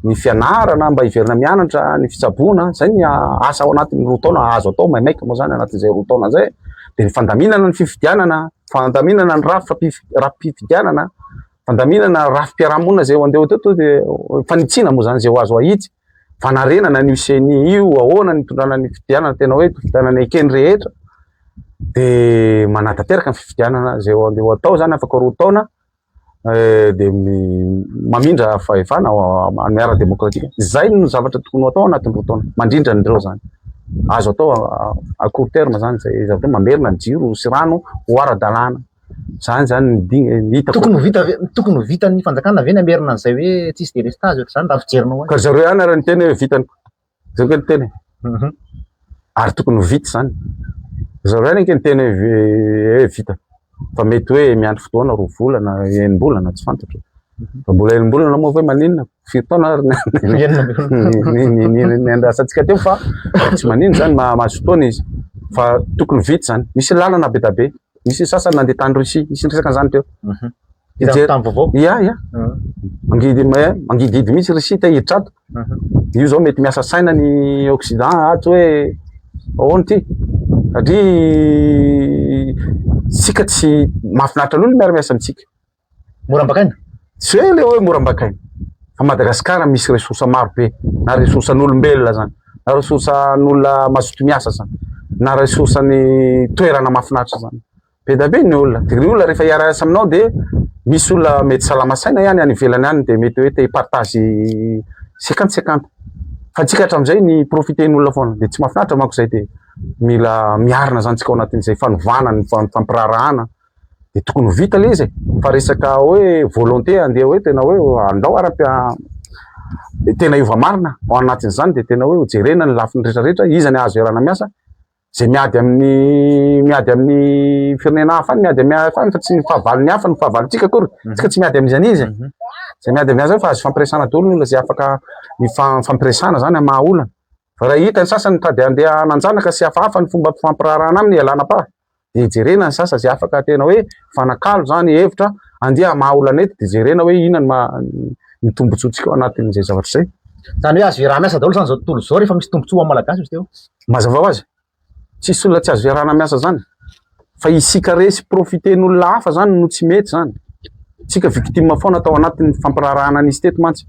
ny fianarana mba hiverina mianatra ny fitsaboana izay ny asa ao anatin'ny roa taona azo atao maimaika moa izany anatin'izay roa taona izay dia ny fandaminana ny fifidianana fandaminana ny rafitra rafi-pifidianana fandaminana rafi-piarahamonina izay andeha ho teto dia fanitsiana moa izany izay ho azo ahitsy, fanarenana an'io CENI io, ahoana ny hitondrana ny fifidianana, tena hoe fifidianana ekeny rehetra, dia manatanteraka ny fifidianana izay andeha ho atao izany afaka roa taona, eh, dia mamindra fahefana amin'ny ara-demokratika. Izay no zavatra tokony ho atao anatin'ny roa taona, mandrindra an'ireo izany. Azo atao à court terme izany izay zavatra hoe mamerina ny jiro sy rano ho ara-dalàna. Izany izany no ding- eh, hitako. Tokony ho vita ve- tokony ho vitan'ny fanjakana ve ny hamerina an'izay hoe tsisy délestage ohatr'izany raha fijerinao azy? Ka zareo ihany ary niteny hoe vitany koa. Zay koa niteny. Mhm. Ary tokony ho vita izany. Zareo ihany ange niteny hoe vi- hoe vitany. Fa mety hoe miandry fotoana roa volana, enim-bolana, tsy fantatro. Mbola elimbolana moa ve maninona? Firy taona ary ny andrasantsika teo fa tsy maninona zany mazotoana izy. Fa tokony vita zany. Misy lalana be da be. Misy sasany nandeha tany Russie, nisy niresaka an'izany teo. Mhm. Hijery tany vaovao? Ia, ia. Mhm. Mangidy mangidihidy mihitsy Russie te hiditra ato. Mhm. Io zao mety miasa saina ny Occident ato hoe ahoana ty? Satria tsika tsy mahafinaritra loatra miara-miasa amintsika. Mora ambakaina? Zay ilay hoe mora ambakaina. Fa Madagasikara misy ressources maro be, na ressources an'olombelona zany, na ressources an'olona mazoto miasa zany, na ressources an'ny toerana mahafinaritra zany. Be dia be ny olona. Dia ny olona rehefa hiara-hiasa aminao dia misy olona mety salama saina ihany any ivelany any dia mety hoe te hi-partage cinquante cinquante. Fa antsika hatramin'izay ny profiter ny olona foana. Dia tsy mahafinaritra manko izay dia mila miarina zany tsika ao anatin'izay fanovana ny fampiraharahana dia tokony ho vita ilay izy e, fa resaka hoe volonté handeha hoe tena hoe andao ary ampi- dia tena hiova marina ao anatin'izany dia tena hoe hojerena ny lafiny rehetra rehetra, iza ny azo iarahana miasa, izay miady amin'ny miady amin'ny firenena hafa any miady amin'ny hafa any fa tsy ny fahavalon'ny hafa no fahavalontsika akory, isika tsy miady amin'izany izy e, izay miady amin'ny hafa fa azo ifampiresahana daholo ny olona izay afaka mifa- mifampiresahana izany amin'ny maha olana, fa raha hita ny sasany mitady handeha hanan-janaka sy hafahafa ny fomba fifampiraharahana aminy ialana am-paha. dia jerena ny sasa izay afaka tena hoe mifanakalo izany hevitra, andeha hamaha olana eto dia jerena hoe inona ny maha ny tombontsoantsika ao anatin'izay zavatra izay. Izany hoe azo iarahana miasa daholo izany izao tontolo izao rehefa misy tombontsoa ho an'ny Malagasy izy teo? Mazava ho azy, tsisy olona tsy azo iarahana miasa izany fa isika resy profiten'olona hafa izany no tsy mety izany, isika victime foana tao anatin'ny fampiraharahana nisy teto mantsy.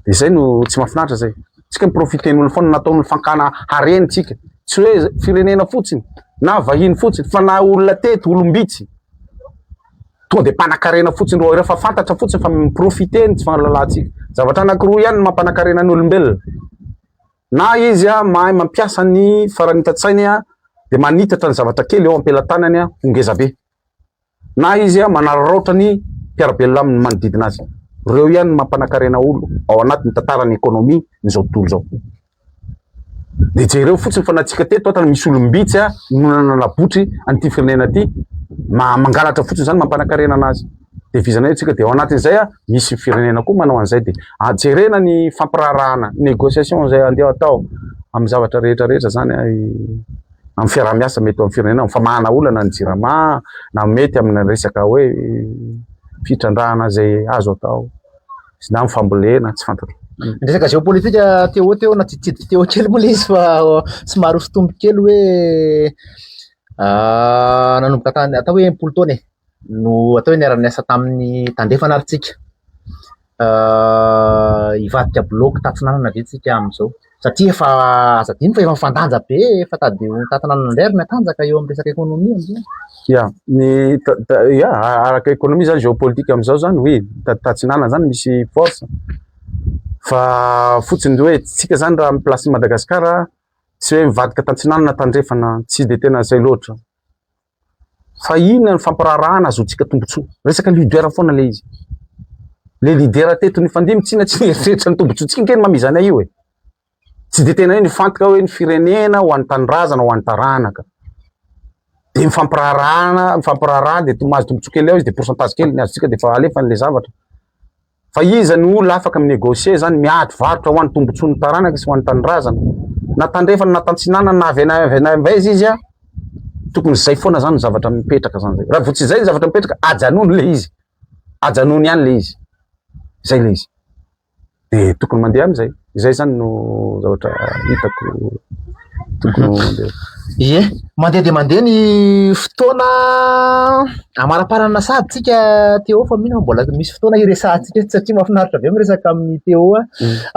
Dia izay no tsy mahafinaritra izay. Isika mi-profiter-n'olona foana, natao ny fakana hareny isika. Tsy hoe firenena fotsiny, na vahiny fotsiny, fa na olona teto, olom-bitsy. Tonga dia mpanakarena fotsiny ireo, fa fantatra fotsiny fa mi-profiter ny tsy fahalalantsika. Zavatra anankiroa ihany no mampanakarena ny olombelona, na izy mahay mampiasa ny faran'ny itan-tsainy, dia manitatra ny zavatra kely eo am-pelatanany ho ngezabe. Na izy manararaotra ny mpiara-belona aminy manodidina azy. Ireo ihany no mampanakarena olo ao anatiny tantaran'ny ekonomia izao tontolo izao. Dia jereo fotsiny fa natsika teto hatany misy olom-bitsy a no nananabotry an'ity firenena ity mangalatra fotsiny izany mampanakarena anazy. Dia vizana eo tsika dia ao anatin'izay a misy firenena koa manao an'izay dia ajerena ah, ny fampiraharahana négociation izay andeha atao amin'ny zavatra rehetra rehetra izany a. amin'ny fiaraha-miasa mety eo amin'ny firenena, amin'ny famahana olana ny Jirama na mety amina resaka hoe fitrandrahana izay azo atao sy na amin'ny fambolena tsy fantatro. Ny resaka géopolitique te ho te ho natitidiko te ho kely moa izy fa somary hosotomiko kely hoe nanomboka tany atao hoe impolo taona e no atao hoe niara-niasa tamin'ny tandrefana ary tsika. hivadika bloc tatsinanana ve tsika amin'izao satria efa aza adino fa efa mifandanja be efa tady ho tatinanana indray ary ny atanjaka eo amin'ny resaka ekonomia amin'izao ya ny ya araka ekonomia zany géopolitique amin'izao zany oui tatsinanana zany misy force fa fotsiny hoe tsika zany raha amin'ny place Madagascar tsy hoe mivadika tatsinanana tandrefana tsy de tena zay loatra Fa inona ny fampiraharahana azontsika tombotsoa? Resaka leader foana le izy. Le leader teto nifandimby tsy na tsy nieritreritra ny tombotsoantsika ange ny mamizana io e. Tsy dia tena hoe nifantoka hoe ny firenena ho an'ny tanindrazana ho an'ny taranaka. Dia mifampiraharahana, mifampiraharahana dia mahazo tombotsoa kely ao izy dia pourcentage kely ny azontsika dia efa alefany le zavatra. Fa iza no olona afaka mi-negocier zany, miady varotra ho an'ny tombotsoan'ny taranaka sy ho an'ny tanindrazana. Na tandrefana na tantsinanana na avy any avy any avy aiza izy a, tokony zay foana zany ny zavatra mipetraka zany zay. Raha vao tsy zay ny zavatra mipetraka, ajanony le izy, ajanony ihany le izy, zay le izy. De tokony mandeha amizay. Izay zany no zavatra hitako tokony ho mandeha. Ie, mandeha dia mandeha ny fotoana amaraparana sahady tsika Téo fa mino aho mbola misy fotoana hiresahantsika eto satria mahafinaritra be miresaka amin'ny Téo a.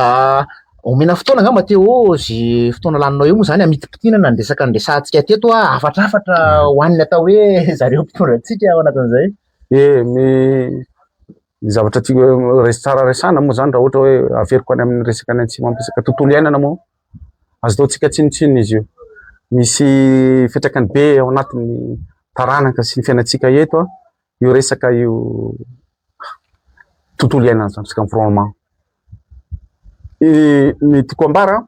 Ah, omena fotoana angamba Téo zy fotoana laninao eo moa izany hamitipitinana ny resaka niresahantsika teto a, hafatrafatra ho an'ny atao hoe zareo mpitondra antsika ao anatin'izay. Ie, mi- ny zavatra tiako eh, res tsara resana moa zany raha ohatra hoe averiko any amin'ny resaka any antsimo ampisaka tontolo iainana moa azo taontsika tsinontsinona izy io misy fetrakany be ao anatin'ny taranaka sy ny fiainantsika eto a io resaka io tontolo iainana zany resaka environnement ny tiko ambara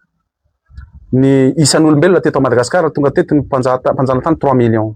ny isan'olombelona teto madagasikara tonga teto ny mpanjatany trois millions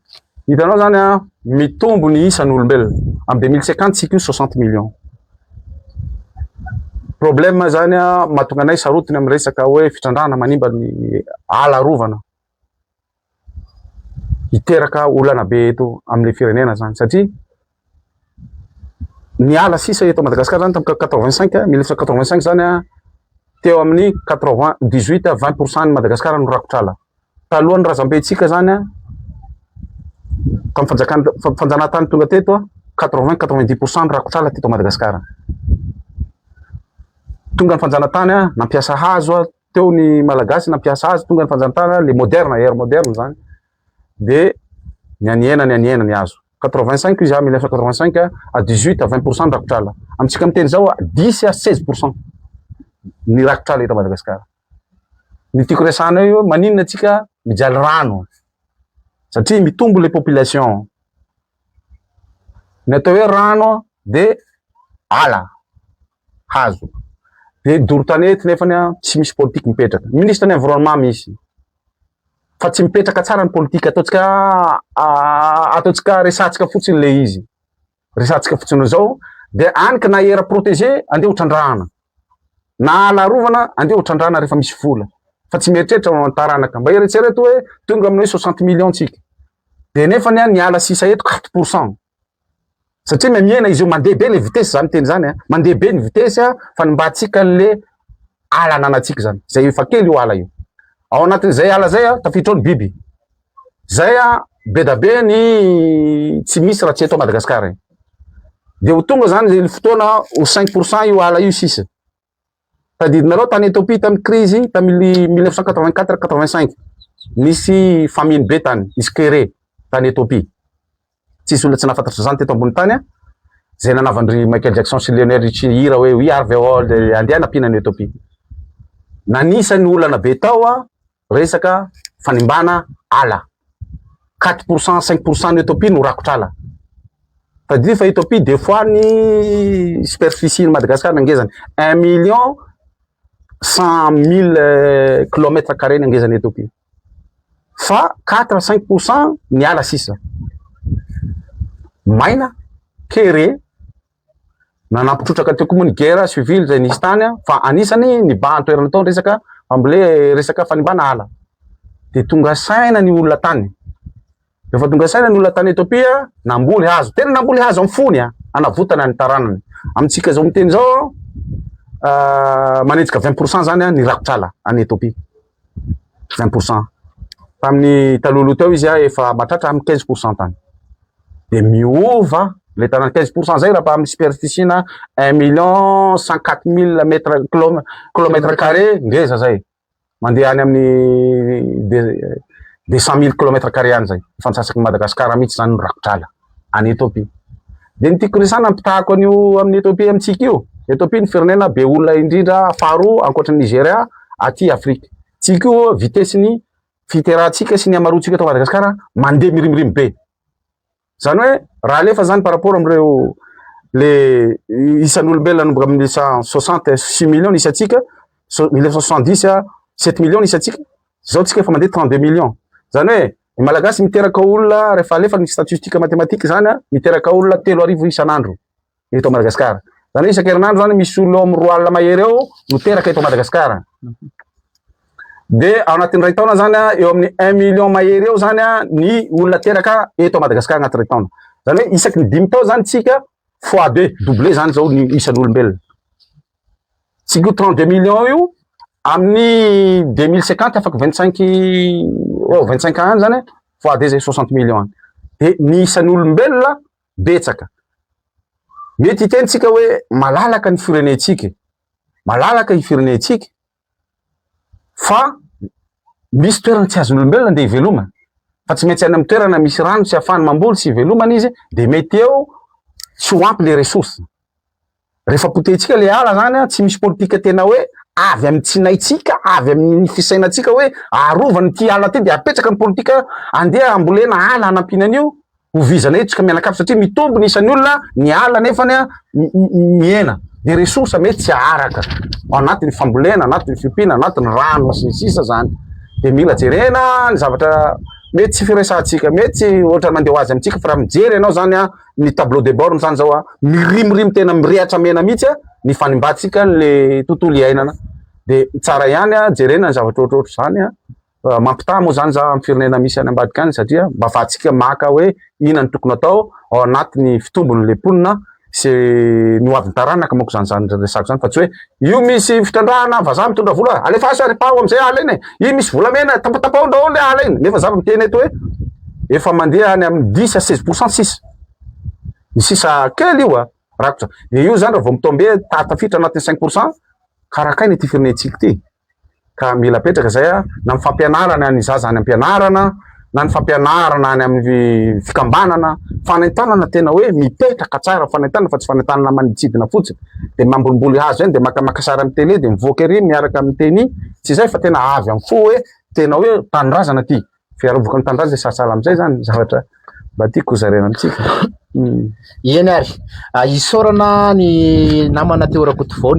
Hitanao zany a, mitombo ny isan'olombelona. Am 2050 tsika io 60 millions. Problème zany a, mahatonga anay sarotiny amin'ny resaka hoe fitrandrahana manimba ny ala arovana. Hiteraka olana be eto amin'ny firenena zany satria niala sisa eto Madagascar zany tamin'ny quatre vingt cinq mille neuf cent quatre vingt cinq zany an teo amin'ny quatre vingt dix huit à vingt pour cent ny Madagascar no rakotr'ala talohan'ny razambentsika zany an tamin'ny fanjakana fanjanahantany tonga teto an quatre vingt quatre vingt dix pour cent ny rakotr'ala teto Madagascar tonga ny fanjanahantany an nampiasa hazo an teo ny malagasy nampiasa hazo tonga ny fanjanahantany les modernes ère moderne zany dia ny anihena ny anihena ny azo quatre-vingt cinq izy à mille neuf cent quatre-vingt cinq à dix huit à vingt pour cent ny rakotra ala amintsika amin'ny teny izao dix à seize pour cent ny rakotra ala eto Madagasikara ny tiako resahana eo maninona antsika mijaly rano satria mitombo ilay population ny atao hoe rano dia ala hazo. Dia doro tanety nefany an, tsy misy politika mipetraka. Ministre ny environnement misy, fa tsy mipetraka tsara ny politika. Ataontsika ataontsika resahantsika fotsiny ilay izy. Resahantsika fotsiny izao, dia any ka na era protégé, andeha ho trandrahana. Na ala arovana, andeha ho trandrahana rehefa misy vola. Fa tsy mieritreritra ho an'ny taranaka. Mba eritrereto hoe tonga amin'ny hoe 60 millions tsika. Dia nefany an, ny ala sisa eto 4 pourcent. satria mihamihena izy io mandeha be le vitesse zany teny zany a mandeha be ny vitesse a fanimbantsika an'le ala ananantsika zany zay efa kely io ala io ao anatin'izay ala zay a tafiditra ao ny biby zay a be da be ny tsy misy raha tsy eto madagasikara e de ho tonga zany le fotoana ho cinq pourcent io ala io sisa Tadidinareo tany Ethiopie tamin'ny crise tamin'ny mille neuf cent quatre vingt quatre quatre vingt cinq nisy famine be tany, nisy kere tany Ethiopie. Tsisy olona tsy nahafantatry izany teto ambony tany an. Izay nanavan-dry Michael Jackson sy Lionel Richie hira hoe We are the world, andeha hanampiana an'i Ethiopie. Nanisan'ny olana be tao an, Resaka fanimbana ala, quatre pour cent, cinq pour cent ny Ethiopie no rakotra ala. Tadidio fa Ethiopie des fois ny superficie ny Madagascar ny angezany un million cent mille kilomètre carré ny angezany Ethiopie. Fa quatre à cinq pour cent ny ala sisa. Maina, kere, Nanampy trotraka teo koa moa ny guerre civile izay nisy tany fa anisany nibahan-toerana tao ny resaka fambolea, resaka fanimbana ala. Dia tonga saina ny olona tany. Rehefa tonga saina ny olona tany Ethiopia, namboly hazo. Tena namboly hazo amin'ny fony, hanavotana ny taranany. Amintsika izao miteny izao, manenjika 20% zany ny rakotr'ala any Ethiopia. 20 pourcent tamin'ny talohaloha teo izy efa mahatratra amin'ny 15 pourcent tany dia miova le tana 15 pourcent zay raha amin'ny superficie na 1 million 104 mille mètre kilomètre carré ngeza zay mandeha any amin'ny de 100 mille kilomètre carré any zay efa antsasaky Madagasikara mihitsy zany ny rakotr'ala any Ethiopia. Dia ny tiako resahana ny mpitahako an'io amin'ny Ethiopia amintsika io. Ethiopia ny firenena be olona indrindra faharoa ankoatry ny Nigeria aty Afrika. Tsika io vitesse ny fiterahantsika sy ny hamaroantsika eto Madagasikara mandeha mirimirimy be. Zany hoe raha alefa zany par rapport amin'ireo le isan'olombelona nanomboka amin'ny 1960 6 millions isantsika 1970 7 millions isantsika Zao tsika efa mandeha 32 millions. Zany hoe ny malagasy miteraka olona rehefa alefa ny statistique mathématique zany a, miteraka olona telo arivo isan'andro eto Madagascar. Zany hoe isan-kerinandro zany misy olona eo amin'ny roa alina mahery eo no teraka eto Madagascar. Dia ao anatin'ny iray taona zany a, eo amin'ny 1 million mahery eo zany a ny olona teraka eto Madagascar anatin'ny iray taona. Zany hoe isaky ny dimy taona zany tsika fois deux, doublé zany zao ny isan'olombelona. tsy io trente deux millions io amin'ny deux mille cinquante afaka vingt cinq eo vingt cinq ans any zany vao ady zay soixante millions any de ny isan'olombelona betsaka mety hitentsika hoe malalaka ny firenentsika malalaka ny firenentsika fa misy toerana tsy azon'ny olombelona ndeha hivelomana fa tsy maintsy any amin'ny toerana misy rano sy afany mamboly sy hivelomana izy dia mety eo tsy ho ampy le ressource rehefa potehintsika le ala zany a tsy misy politika tena hoe avy amin'ny tsinaitsika avy amin'ny fisainantsika hoe arovana ity ala ity dia apetraka ny politika andeha ambolena ala hanampiana an'io ho vizana hetsika mianakavy satria mitombo ny isan'ny olona ny ala nefany a mihena ny ressource mety tsy aharaka ao anatin'ny fambolena anatin'ny fiompiana anatin'ny rano sy ny sisa zany dia mila jerena ny zavatra mety tsy firesahantsika mety tsy ohatra mandeha ho azy amintsika fa raha mijery ianao zany a ny tableau de bord zany zao a mirimirimy tena mirehatra mena mihitsy a ny fanimbantsika le tontolo iainana dia tsara ihany a jerena ny zavatra ohatrohatr' izany a Mampitaha moa izany za amin'ny firenena misy any ambadika any satria mba afahantsika maka hoe inona no tokony atao ao anatin'ny fitombon'ilay mponina sy ny ho avin'ny taranaka manko izany izany resako izany fa tsy hoe io misy fitrandrahana vazaha mitondra vola alefaso ary paho amin'izay ala iny e! io misy volamena tapatapaho daholo ilay ala iny nefa za miteny eto hoe efa mandeha any amin'ny dix à seize pourcent sisa ny sisa kely io a rakotra dia io izany raha vao mitombe tafiditra anatin'ny cinq pourcent karakaina ity firenentsika ity ka mila apetraka izay a, na ny fampianarana ny zaza any am-pianarana, na ny fampianarana any amin'ny fikambanana, fanentanana tena hoe mipetraka tsara fanentanana fa tsy fanentanana maniditsidina fotsiny, dia mambolimboly hazo eny, dia makamaka sary amin'ny télé, dia mivoaka ery miaraka amin'ny tenue, tsy izay fa tena avy amin'ny fo hoe tena hoe tanindrazana ity, fiarovako ny tanindrazana izay sahasahala amin'izay izany ny zavatra mba tiako hozaraina amintsika. Eny ary, isaorana ny namana teo Rakotovao.